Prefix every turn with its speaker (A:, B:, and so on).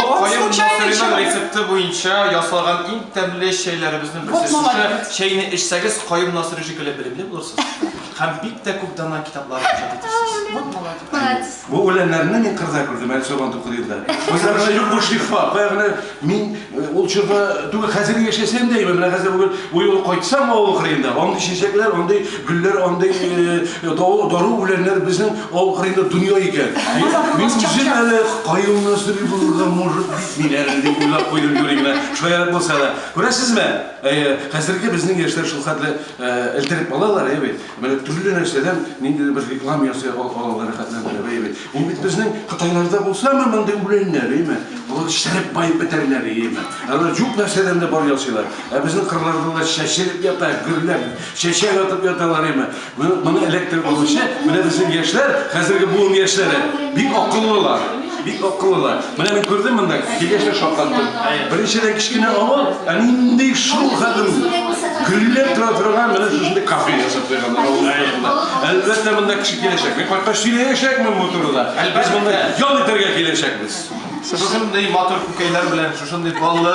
A: Каен мохырының рецепты буенча ясалган иң тәмле чәйләребезнең берсе. Шушы чәйне эчсәгез, Каен Насыйри шикелле белемле булырсыз һәм бик тә күп данлы китаплар иҗат итәрсез.
B: Бу үләннәрне мин кырда күрдем, әле сабан туку елда. Үзләренә юк бу шифа. Баягы мин ул чорда түгел, хәзер яшәсәм дә, менә хәзер бүген бу юлы кайтсам авыл кырыенда, андый чәчәкләр, андый Гөлләр андый дару үләннәр безнең авыл кырыенда дөнья икән. Мин үзем әле каюмны сорый булырга может бит мин әле дип уйлап куйдым юри генә, шаярып булса да. Күрәсезме, хәзерге безнең яшьләр шулхәтле элтерек балалар, әйе бит? Менә төрле нәрсәдән ниндидер бер реклама ясый алалар, рәхәтләндереп, әйе бит? Бу бит безнең кытайларда булсамы мондый үләннәр, әйме? Алар шәреп баеп бетәрләр, әйме? Алар җук нәрсәдән дә бар ясыйлар. Ә безнең кырларда да чәчелеп ята, гөрләп, чәчәк атып яталар, әйме? Моны, моны эләктереп алучы, менә безнең яшьләр, хәзерге буын яшьләре, бик акыллылар, бик акыллылар. Менә мин күрдем монда, килгәчләр шаккатты. Беренчедән кечкенә авыл, ә нинди шул хәдем гөлләп тора торган менә шушындый кафе ясап куйган авылда. Әлбәттә монда кеше киләчәк. Мин кайткач сөйләячәкмен бу турыда. Без монда ял итәргә киләчәкбез. Шушындый
A: матур күкәйләр белән, шушындый баллы